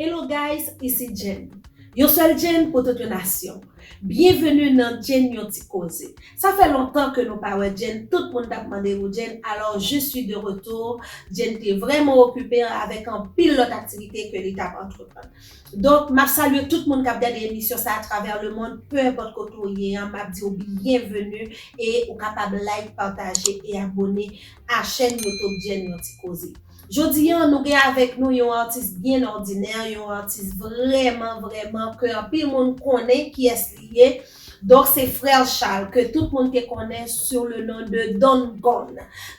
Hello guys ici Jenn yon sèl Jenn pou tout yon nasyon byenveni nan Jenn yon ti koze sa fè lontan ke nou pa wè Jenn tout moun tap mande pou Jenn alò je suis de retour Jenn te vrèman okipe avèk anpil lòt aktivite ke li tap antreprann. Donk map salye tout moun kap gade emisyon sa atravè le mond peu importe kote ou ye an map diw byen venu e ou kapab like pataje e abone a chèn YouTube Djenn yon ti koze. Jodi an nou gen avèk nou yon atis byen òdinè yon atis vrèman vrèman ke anpil moun konnen kiyès li ye, Donk se frère Charles ke tout moun te konnen sou le non de Don Gon.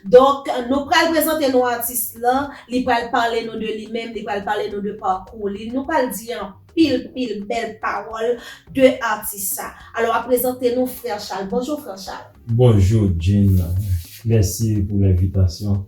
Donk nou pral prezante nou atis lan, li pral pale nou de li menm, li pral pale nou de pakou li, nou pral di anpil pil bèl pawòl de atis sa. Alò a prezante nou frère Charles. Bonjour frère Charles. Bonjou Jim, mèsi pou lenvitasyon.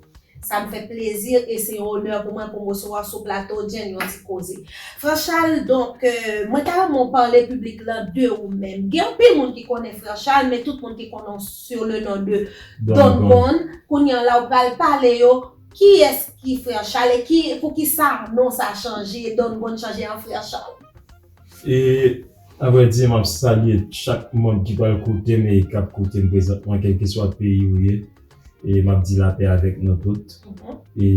Sa m fè plezi e se yon onè pou mwen pou m resevwa w sou plato Jim yon ti koze. Frè Chal, donk, mwen ta renmen w pale piblik la de ou menm. Gen anpil moun ki konnen Frè Chal, men tout moun ki konnen w sou le non de Don Gon. Kounye an la ou pral pale yo kiyès ki Frè Chal e ki, poukisa non sa chanje, Don Gon chanje an Frè Chal. E A vrè di, m ap salye chak manb ki pral koute m e k ap koute m prezantman kèlkeswa peyi ou ye e m ap di lapè avèk nou tout e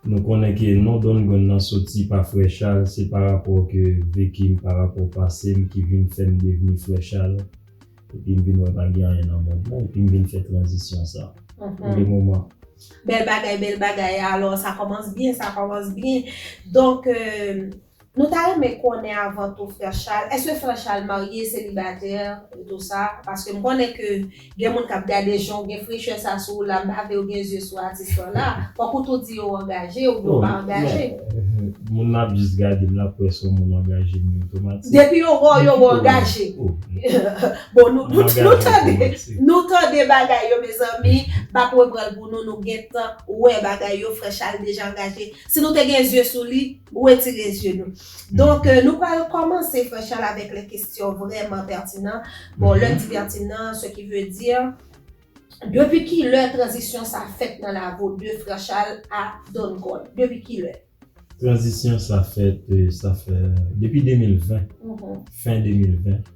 nou konnen ke non Dongwen nan soti pa Frè Chal se pa rapò ke veki m pa rapò pase m ki vin fè m devni Frè Chal epi m vin wè pa gen anyen nan mond lan epi m vin fè tranzisyon sa pou le moman. Bèl bagay bèl bagay alò sa kòmanc byen sa kòmanc byen donk Nou ta renmen konnen avan tou frè Charles, eske frè Charles marye, selibatè, e tou sa, paske m konnen ke gen moun kap gade jan w gen frechè sa sou w la, m pa vle yo gen zye sou atis lan la, fòk ou tou di yo angaje oubyen ou pa angaje. Men, moun lap jis gade m lap wè son moun angaje men otomatik. Depi yo wè w yo wè w angaje. Bon nou tande, nou tande bagay yo mezanmi, m pap repranl pou nou, nou gentan wè bagay yo, frè Charles deja angaje. Si nou te gen zye sou li. Retire zye nou. Donk nou pral kòmanse frè Chal avèk lè kesyon vrèman pètinan. Bon lè m di pètinan se ki vle di. Depi ki lè tranzisyon sa fèt nan lago de frè Chal a Don Gold? Depi ki lè? Tranzisyon sa fèt sa fè depi 2020 fen 2020.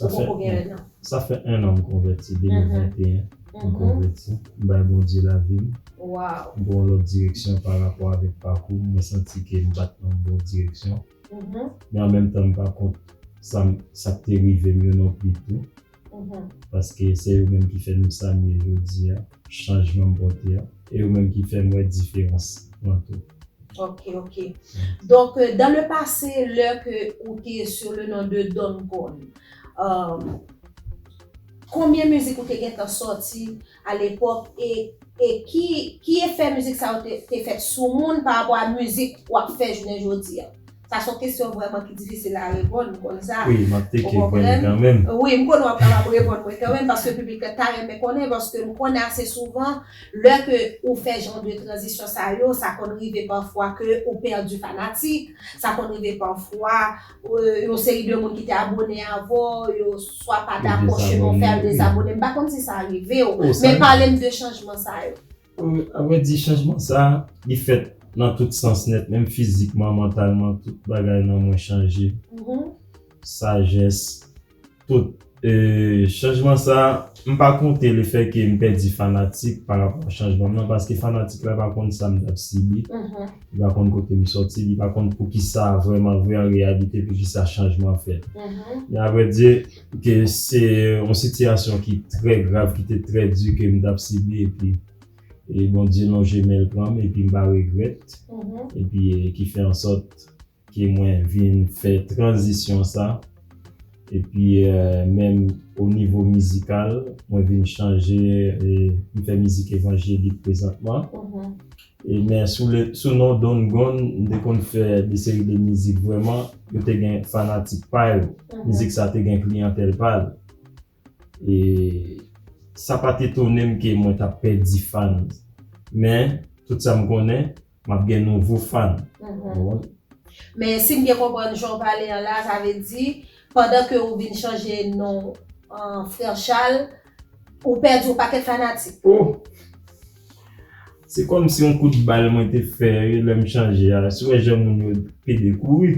Ou poko gen 1 an. Sa fè 1 an m konvèti 2021 m konvèti m bay Bondye lavi m m pran yon lòt direksyon pa rapò avèk pakou m mwen santi ke m pat nan bon direksyon men an menm tan m pa kont sa m sa k te rive m yo non pli tou paske se yo menm ki fè m sa m ye jodi a. chanjman m pote a e yo menm ki fèm wè diferans lan tou. Ok ok donk dans le passé lè ke ou te sur le nom de Don Goon konbyen mizik ou te gentan sòti a lepòk e ki efè mizik sa yo te fèt sou moun pa rapò a mizik wap fè jounen jodi a? Sa son kesyon vrèman ki difisil a reponn, ou konn sa. Wi, map teke jwenn kanmenm. Wi, m konnen wap kapab reponn mwen kanmenm paske piblik la ta renmen konnen paske m konnen ase souvan lè ke ou fè jan de tranzisyon sa yo, sa konn rive pafwa ke ou pèdi fanatik, sa konn rive pafwa yon seri de moun ki te abone avè w yo swa pa dakò chemen w fè yo dezabone, m pa konn si sa rive w, men pale m de chanjman sa yo. Apre di chanjman sa, li fèt nan tout sans nèt, menm fizikman, mantalman, tout bagay nan mwen chanje. Sajès, tout. E chanjman sa, m pa konte le fè ke m pèdi fanatik pa rapò chanjman m nan, paske fanatik la pa konn sa m t ap sibi, li pa konn kote m sòti, li pa konn poukisa vrèman vre an reyalite poukisa chanjman fèt. Men avrèdi. Ke se yon sitiyasyon ki trè grav, ki te trè di ke m t ap sibi epi e Bondye lonje men l pran m epi m pa regrèt epi ki fè ansòt ke mwen vin fè tranzisyon sa epi menm o nivo mizikal mwen vin chanje e m fè mizik evanjelik prezantman. Men sou non Don Gon m te konn fè de seri de mizik vrèman yo te gen fanatik pa yo. Mizik sa te gen kliyantèl pa l. E sa pa t etone m ke mwen t ap pèdi fan. Men tout sa m konnen m ap gen nouvo fan. Men si m byen konprann jan w pale an la sa vle di Pandan ke ou vin chanje non an Frère Charles, ou pèdi yon pakèt fanatik. Oh! Se kòm si yon kout bal mwen te fè lè m chanje a, si w wè jan moun yo pede kouri.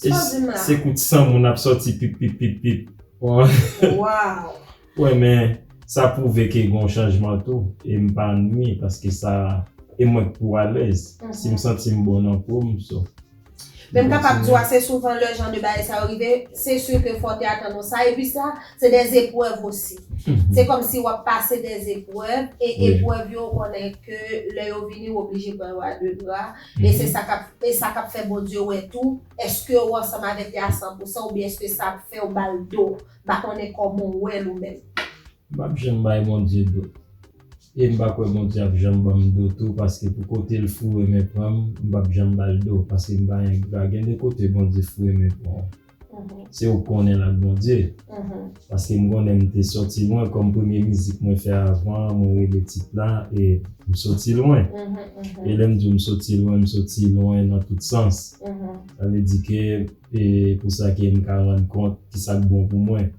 Sa w ap di m la? Se kout san moun ap sòti pip pip pip pip. Waww! Wè men, sa pwouve ke gen yon chanjman tou e m pa nwi paske sa e mwen k pou alèz. Si m santi m bon nan po m, so. Men m kapab di w ase souvan lè jan de bagay sa yo rive, se sur ke fò w te atann ou sa. Epi sa, se dè zeprèv osi. Se kòm si w ap pase dè zeprèv, e eprèv yo ou konnen ke lè yo vini ou oblije pran yo a de bra. E se sa k ap, e sa k ap fè Bondye wè tou, èske ou ansanm avèk li a san pou san oubyen èske sa ap fè ou ba l do. M pa konnen kòman ou wè l ou menm. M pap janm bay Bondye do e m pa kwè Bondye ap janm ban m do tou paske pou kote l foure men pran m m pap janm ba l do paske m pa engra gen de kote Bondye foure men pran w se ou k konnen l ak Bondye paske m konnen m te sòti lwen kòm premye mizik mwen fè avan an mwen rele tit la e m sòti lwen e lè m di w m sòti lwen m sòti lwen nan tout sans sa vle di ke E pou sa ke m ka rann kont ki sa k bon pou mwen.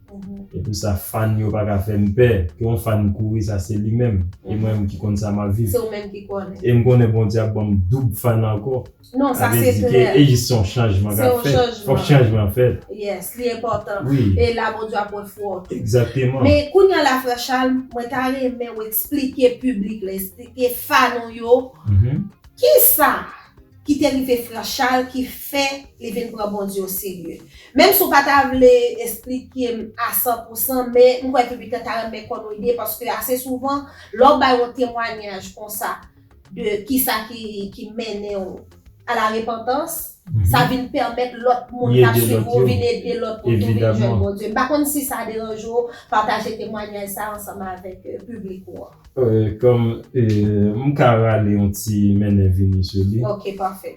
E pou sa fàn yo pa ka fè m pè. Ke yon fàn kouri sa se li menm. E mwen menm ki konn sa m ap viv. Se ou menm ki konnen. E m konnen Bondye ap ban m doub fàn ankò. Non sa se klè. Sa vle di ke e jis se yon chanjman k ap fèt. Se yon chanjman. Fòk chanjman fèt. Yes li enpòtan. Wi. E la Bondye ap wè fwè w tou. Egzakteman. Men kounye an la frè Charles mwen ta renmen ou eksplike piblik la, eksplike fàn ou yo. Ki sa. ki te rive Franchal ki fè li vin pran Bondye o serye. Menm si w pa ta vle esplike m a san pou san, men m kwè piblik la ta renmen konn yon ide paske ase souvan lè w bay yon temwanyaj konsa de kisa ki mennen w a la repantans, sa vin pèmèt lòt moun k ap swiv ou vin ede lòt moun tou vin jwenn Bondye. M pa konn si sa deranje w pataje temwanyaj sa ansanm avèk piblik ou an. Kòm m ka rale yon ti mennen vini sou li. Ok pafè.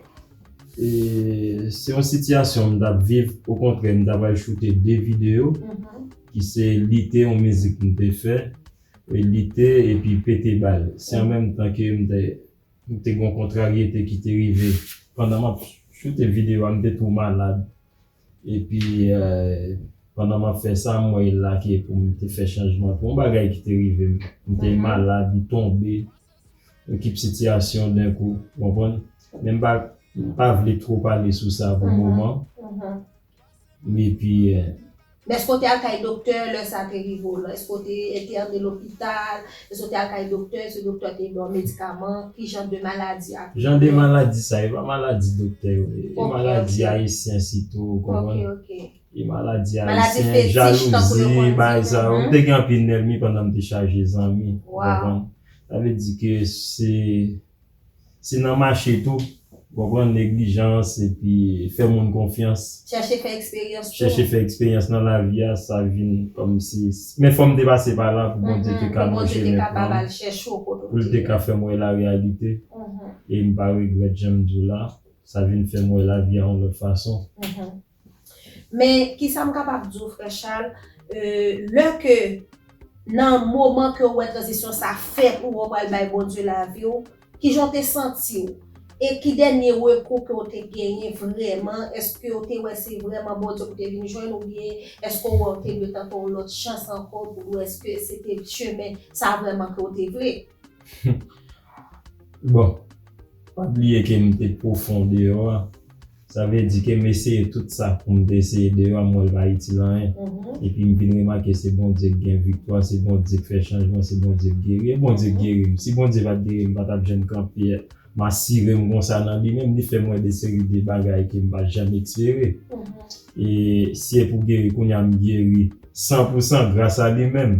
Se yon sitiyasyon m t ap viv okontrè m ta pral choute 2 videyo ki se lite yon mizik m te fè e lite epi pete bal. Se an menm tan ke m te gen yon kontraryete ki te rive pandan m ap choute videyo a m te tou malad Epi pandan m ap fè sa, m wè la ke pou m te fè chanjman pou yon bagay ki te rive m. M te malad, m tonbe, yon kip sitiyasyon denkou, ou konprann. Men m pa vle two pale sou sa pou moman. Epi. Men èske ou te al kay doktè lè sa te rive w lan? Èske ou te entène lopital? Èske w te al kay doktè? Èske doktè te ba w medikaman? Ki jan de maladi ak doulè? Jan de maladi sa, e pa maladi doktè yo. E maladi ayisyen sitou, ou konprann? E maladi ayisyen, jalouzi, bay sa yo. M te gen anpil nèlmi pandan m te chaje zanmi, ou konprann? Sa vle di ke se. Se nan mache tou, konprann neglijans epi fè moun konfyans. Chèche fè eksperyans tou. Chèche fè eksperyans nan lavi a, sa vin kòmsi, men fò m te pase pa la pou Bondye te ka lonje men pou mwen, pou l te ka fè m wè la reyalite. E m pa regrèt jan m di w la, sa vin fè m wè lavi a yon lòt fason. Men kisa m kapab di w frè Chal, lè ke nan moman ke ou wè tranzisyon sa fè pou ou pral bay Bondye lavi w, kijan w te santi w? E ki dènye rekou ke w te genyen vrèman? Eske w te wè se vrèman Bondye pou te vin jwenn oubyen eske w wè w te dwe tante yon lòt chans ankò pou w wè eske se te chemen sa vrèman ke w te vle? Bon, pa bliye ke m te pwofon deyò a, sa vle di ke m eseye tout sa pou m te eseye deyò a m wè l pa itil anyen. Epi m vin remake se Bondye ki gen viktwa, se Bondye ki fè chanjman, se Bondye ki geri. E Bondye ki geri m. Si Bondye pa t geri m, m pa t ap janm kanpe a. M asire m konsa nan li menm, li fè m wè de seri de bagay ke m pa t janm espere. E si e pou geri, kounye a m geri san pou san gras a li menm.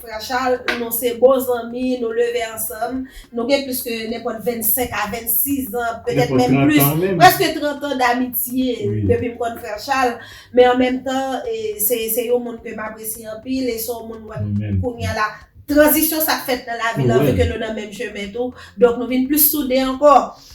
Prachal, Nou se bon zanmi, nou leve ansanm, nou gen plis ke nenpòt 25 a 26 an, petèt menm plis, prèske 30 an damitye depi m konn frè Chal, men an menm tan se yon moun ke m apresye anpil e se yon moun mwen kounya la tranzisyon sa k fèt nan lavi l an, vi ke nou nan menm chemen tou, donk nou vin plis soude ankò.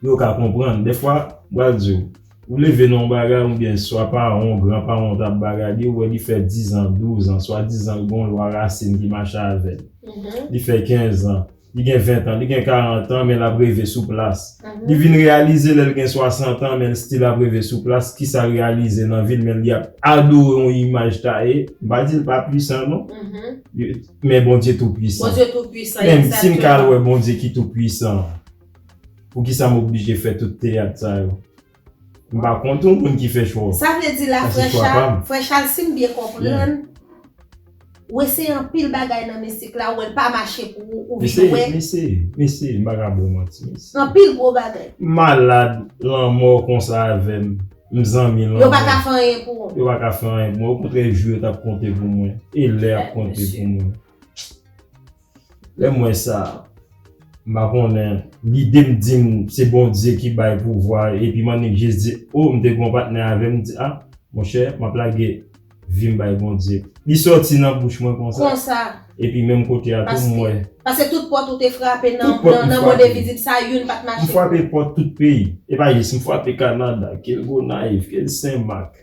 pou yo ka konprann. Dèfwa, m pral di w, ou leve nan yon bagay oubyen swa paran w, gran paran w t ap bagadi, ou wè li fè dizan, douzan, swadizan l gen yon lwa rasin ki mache avè l. Li fè kenzan, li gen ventan, li gen karantan men l ap reve sou plas. Li vin reyalize lè l gen swasantan men l stil ap reve sou plas, kisa l reyalize nan vi l men li ap adore yon imaj taye. M pa di l pa puisan non, men Bondye tou puisan. Bondye tou puisan, egzakteman. Men si m ka al wè Bondye ki tou puisan an. Poukisa m oblije fè tout teyat sa yo? M pa kont yon moun ki fè chwa w. Sa vle di la frè chal, frè chal sim byen konprann ou eseye anpil bagay nan misik la ou wèl pa mache pou ou ou vin wè. M eseye, m eseye m paka ba w manti m eseye. Anpil gwo bagay. M malad lanmò konsa avèm m zanmi lanmò. Yo paka fè anyen pou ou. Yo paka fè anyen pou mwen okontrè jou yo tap konte pou mwen e lè ap konte pou mwen. Lè m wè sa, m pa konnen, lide m di m se Bondye ki bay pouvwa epi m annik jis di o m te gen yon patnè avè m, m di a monchè m ap lage vi m bay Bondye. Li sòti nan bouch mwen konsa epi menm kote a tou m wè. Pase tout pòt ou te frape nan mond envizib sa a youn pa t mache. M frape pòt tout peyi. E pa jis m frape Kanada, ke l Gonayiv, ke l Senmak,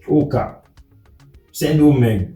Okap, Sendomeng.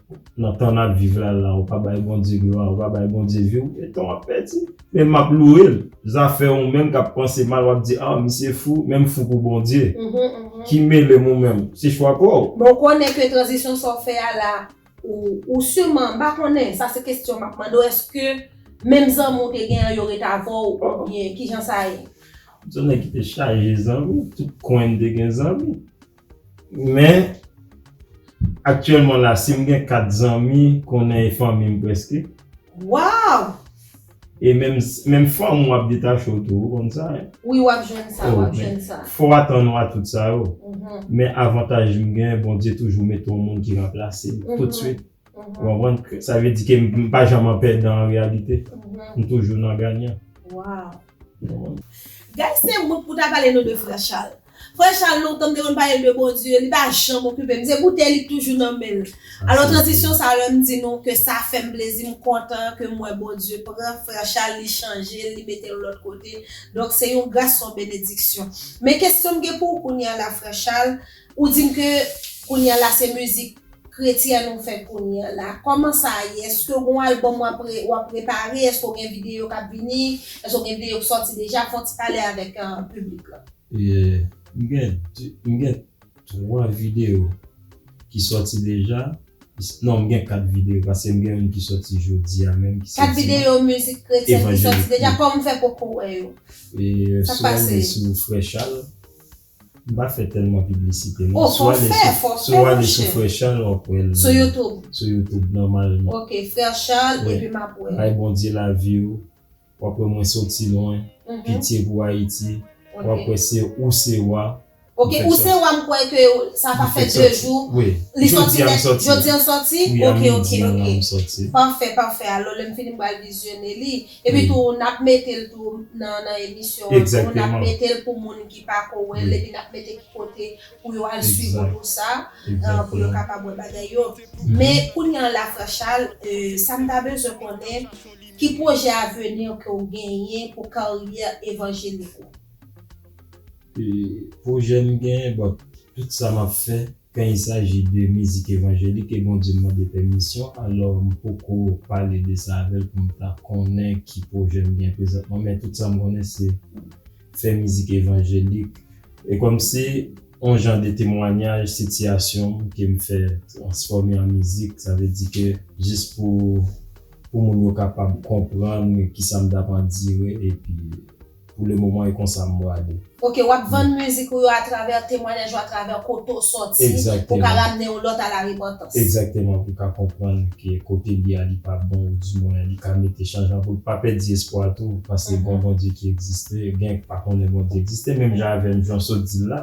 Nan tan nap viv la la ou pa bay Bondye glwa ou pa bay Bondye viw etan wap pèdi men map lourel zafè ou menm kap panse mal wap di ah misye fou menm fou pou Bondye ki melem ou menm se chwa paw. Bon konnen ke tranzisyon sa w fè a la ou sûrement m pa konnen sa se kestyon map mande w eske menm zanmi w te gen an yo ret avè w oubyen kijan sa ye? M se yon nèg ki te chaje zanmi tout kwen m te gen zanmi Men, aktyèlman la, si m gen 4 zanmi, konnen e fanmi m prèske. Waw! E menm, menm fanm ou ap detache w tou, ou konn sa. Wi, w ap jwenn sa, w ap jwenn sa. Fò w atann ou a tout sa yo. Men avantaj m gen, Bondye toujou mete yon moun ki ranplase m, toutswit. Ou konprann? Sa vle di ke m pa janm an pèdan an reyalite. M toujou nan ganyan. Waw! Guys, se moun pou ta pale nou de Frè Charles. Frè Chal lontan m te konn pale l de Bondye, li pa janm okipe m, se boutèy li k toujou nan men l. Alò tranzisyon sa lè m di nou ke sa fè m plezi m kontan ke m wè Bondye pran frè Chal li chanje l, li mete l lòt kote, donk se yon gras se yon benediksyon. Men kesyon m gen pou w kounya la frè Chal, ou di m ke kounya la se mizik kretyèn ou fè kounya la, kòman sa ye, èske w gen yon albòm w ap prepare, èske w gen videyo k ap vini, èske w gen videyo k sòti deja, fè yon ti pale avèk piblik la. M gen 3 video ki soti deja non m gen 4 video paske m gen youn ki soti jodi a menm ki se dimanch evanjelik pou 4 video mizik kretyen ki soti deja kòman fè poko wè yo sa k pase e sou frechal m pa fè tèlman piblisite non fò w fè fò w fè monchè si w ale sou frechal wap wè l sou youtube sou youtube nòmalman ok frechal epi map wè l bay bondye lavi w. Wap wè mwen soti lwen pitye pou ayiti wap wè se ou se wa Ok ou se wa m kwè ke sa pa fè 2 jou li soti nèt jodi an soti ok ok ok pafè pafè alò lèm fini m pral vizyone li epi tou nap metel tou nan emisyon an tou nap metel pou moun ki pako wèl epi nap mete ki kote pou yo al swiv ou pou sa pou yo kapab wè bagay yo men kounya la frè chal sam ta bezwen konnen. Ki pwojè aveni ke w genyen pou karyè evanjelik ou? Pwojè m genyen, bon, tout sa m ap fè, kan il saji de mizik evanjelik e Bondye m mande pèmisyon, alò m poko pale de sa avè l pou m ta konnen ki pwojè m genyen prezantman, men tout sa m konnen se fè mizik evanjelik e kòmsi on jan de temwanyaj sitiyasyon m ke m fè transfòme an mizik sa vle di ke jis pou pou moun yo kapab konprann kisa m t ap andire epi pou le moman e konsa m bwale. Ok, w ap vann mizik ou yo atravè temwanyaj ou atravè kote w sòti pou w ka ramne yon lòt a la repantan. Egzakteman pou ka konprann ke kote li a li pa bon ou di mwen li ka mete chanjman pou l pa pèdi espwa tou panse gon Bondye ki egziste gen k pa konnen Bondye egziste menm jan avè m jan w sot di l la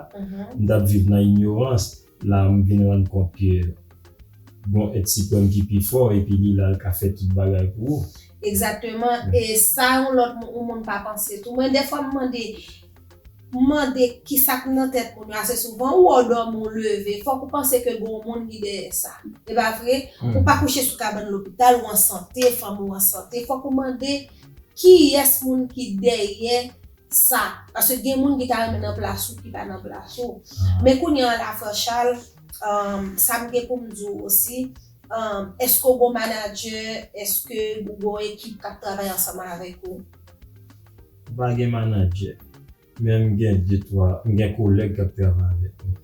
m t ap viv nan inyorans la a m vin rann kont ke gon èt siprèm ki pi fò epi li la l ka fè tout bagay pou ou. Egzakteman e sa yon lòt moun pa panse tou mwen dèfwa m mande M mande kisa k nan tèt moun yo ase souvan. Ou wè w dòmi ou leve, fòk ou panse ke gen yon moun ki dèyè sa. E pa vre? Ou pa kouche sou kabann lopital, ou an sante, fanmi w an sante. Fòk ou mande kiyès moun ki dèyè sa. Paske gen moun ki ta renmen nan plas ou ki pa nan plas ou. Men kounye an la frè Chal, sa m gen pou m di w osi, èske w gen yon manadjè, èske ou gen yon ekip k ap travay ansanm avèk ou? M pa gen manadjè. Men m gen de twa, m gen kolèg k ap travay avèk mwen.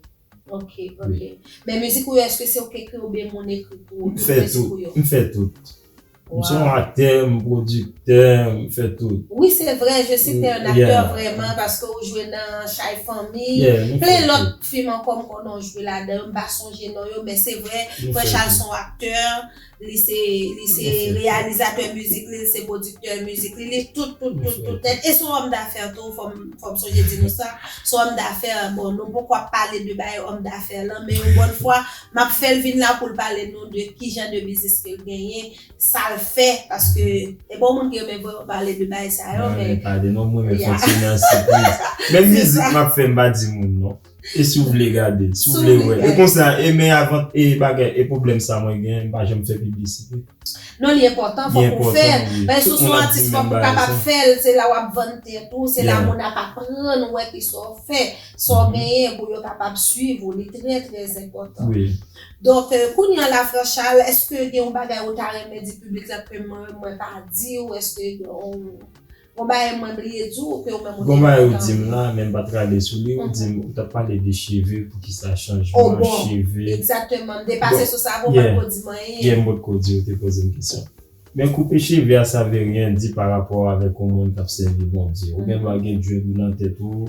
Ok, ok. Men mizik ou yo èske se ou k ekri oubyen moun ekri pou ou? M fè tout, m fè tout. M se yon aktè, m pwodiktè, m fè tout. Wi se vre, je si te un acteur vreman paske ou jwe nan Chay Fanmi, plen lòt fim ankò m konnen ou jwe ladan yo, m pa sonje non yo men se vre Prench Al s on aktè. Li se li se reyalizatè mizik li, li se pwodiktè mizik li, li tout tout tout tout nèt. E se yon òm dafè tou, fò m fò m sonje di nou sa. Se yon òm dafè, bon nou poko ap pale de bagay òm dafè lan, men yon bòn fwa m ap fè l vin la pou l pale nou de ki jan de biznis ke l genyen, sa l fè paske e bon moun ki renmen vwe yo pale de bagay sa yo men. Mwen pa de non m renmen fòksyone an sipriz. Menm mizik m ap fè m pa di moun non. E si w vle gade l? Si w vle wè l? E konsa e men avan e bagay e pwoblèm sa mwen gen m pa janm fè piblisite. Non li enpòtan fòk ou fè l. Paske si w son atis fòk ou kapab fè l. Se la w ap vann tèt ou. Se la moun ap aprann wè ki sa w fè. Sa w genyen pou yo kapab swiv ou. Li trè trè enpòtan. Donk kounye an la frè Charles èske gen yon bagay ou ta renmen di piblik la ke mwen pa di w? Èske gen yon Gon bagay mwen bliye di w ke ou menm ou te Gon bagay ou di m la men m pa t rale sou li ou di m ou t ap pale de cheve poukisa chanjman cheve Egzakteman m te pase sou sa avan w pa t ko di m anyen Yeah m pot ko di w te poze m kesyon Men koupe cheve a sa vle ryen di pa rapò avèk yon moun k ap sèvi Bondye ou gen dwa gen dread ou nan tèt ou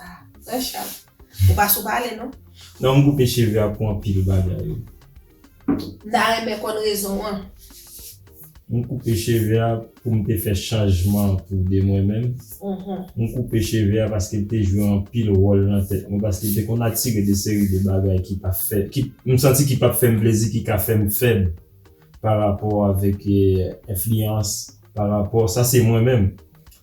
Ah frè cham ou pa sou pale non. Non m koupe cheve a pou anpil bagay wi. M ta renmen konn rezon an. M koupe cheve a poum te fè chanjman pou de mwen menm. M koupe cheve a paske l te jwe anpil wòl nan tèt mwen paske l te konn atire de seri de bagay ki pa fè m santi ki pap fèm plezi ki ka fèm fèb pa rapò avèk enfliyans pa rapò sa se mwen menm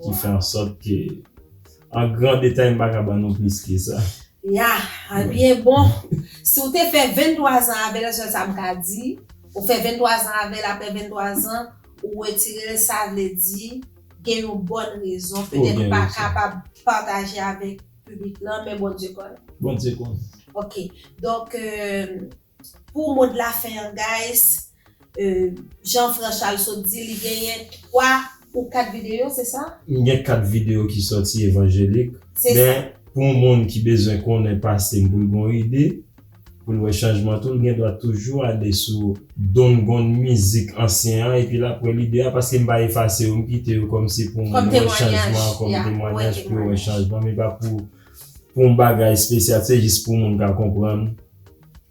Ki fè an sòt ke an gran detay m pa ka ban nou plis ke sa. Ya, ebyen bon, si w te fè 23 zan avè l sèl sa m ka di, ou fè 23 zan avè l aprè 23 zan ou retire l sa vle di gen yon bòn rezon petèt ou pa kapab pataje avèk piblik lan men Bondye konnen. Bondye konnen. Ok, donk Pou mo de la fin an guys Jan Franchal sot di li genyen 3 ou 4 video se sa? M gen 4 video ki soti evanjelik men pou yon moun ki bezwen konnen pase m pou l gen yon ide pou l wè chanjman tou l gen dwa toujou ale sou Don Gon mizik ansyen an epi l ap wè lide a paske m pa efase yo m kite yo kòm se pou moun wè chanjman kòm temwanyaj pou yo wè chanjman men pa pou Pou m bagay spesyal se jis pou moun ka konprann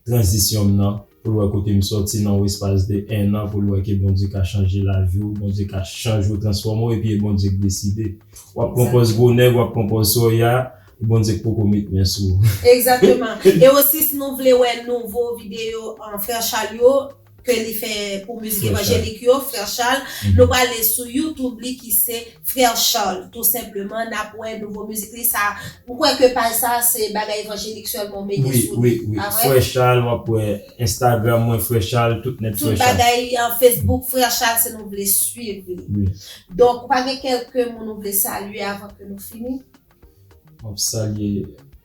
tranzisyon m nan, pou l wè kote m sòti nan yon espas de 1 an, pou l wè ke Bondye ka chanje lavi w, Bondye ka chanje w, transfòme w epi e Bondye k deside. W ap pran pòz gwo nèg, w ap pran pòz sòya, e Bondye k poko met men sou w. Egzakteman. E osi si nou vle wè nouvo videyo Frè Chal yo, ke li fè pou mizik evanjelik yo frère Charles nou prale sou youtube li ki se frère Charles tou senpleman nap wè nouvo mizik li sa m kwè ke paj sa se bagay evanjelik sèlman ou mete sou li pa vre? Frère Charles wap wè instagram mwen frère Charles tout nèt frère Charles. Tout bagay facebook frère Charles se nou vle swiv li donk ou pa gen kelke moun ou vle salye avan ke nou fini? Map salye.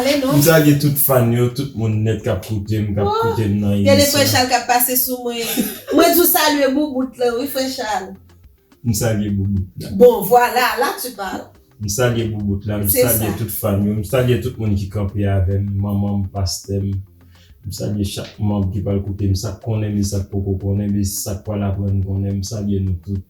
M salye tout fan yo, tout moun nèt kap koute m, kap koute m nan emisyon. Gade frè Chal kap pase sou mwen. Mwen di w salye boubout lan wi frè Chal. M salye boubout la. Bon vwala, la tu parle. M salye boubout la, m salye tout fan yo, m salye tout moun ki kanpe avè m, manman m, pastè m. M salye chak manb ki pral koute m, sa k konnen m e sa k poko konnen m e sa k pral aprann konnen m, m salye nou tout.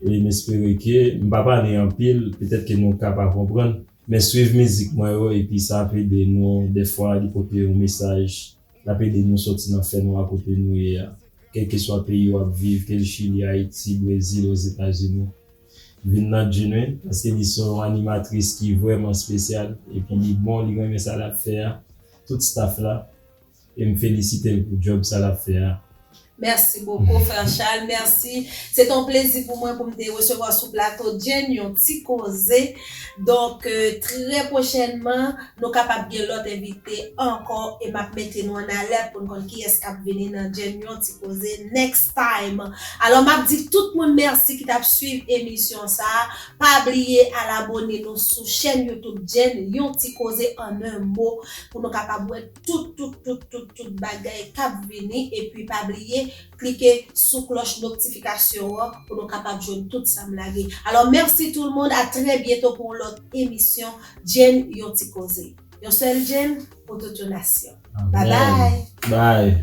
e m espere ke m pa pale anpil, petèt ke nou ka pa konprann, men swiv mizik mwen yo epi sa ap ede nou, dèfwa li pote yon mesaj, l ap ede nou sòti nan fènwa kote nou ye a, kèlkeswa peyi w ap viv, ke l Chili, Ayiti, Brezil, Ozetazini. Vin nan Djine, paske li se yon animatris ki vrèman spesyal, epi li bon, li renmen sa l ap fè a, tout staff la, E m felisite l pou djòb sa l ap fè a. Merci beaucoup frère Charles merci se te yon plezi pou mwen pou m te resevwa sou plato Jane yon ti koze donk trè prochènman nou kapab gen lòt envite ankò e m ap mete nou an alèt pou n konn kiyès k ap vini nan Jane yon ti koze next time alò m ap di tout moun merci ki t ap swiv emisyon sa pa bliye al abone nou sou chèn youtube Jane yon ti koze an 1 mo pou nou kapab wè tout tout tout tout tout bagay kap vini epi pa bliye klike sou klòch noktifikasyon an pou nou kapab jwenn tout sam lage alò mèsi tout moun a trè byento pou yon lòt emisyon Jane yon ti koze yon sèl Jane pou tout yon nasyon babay.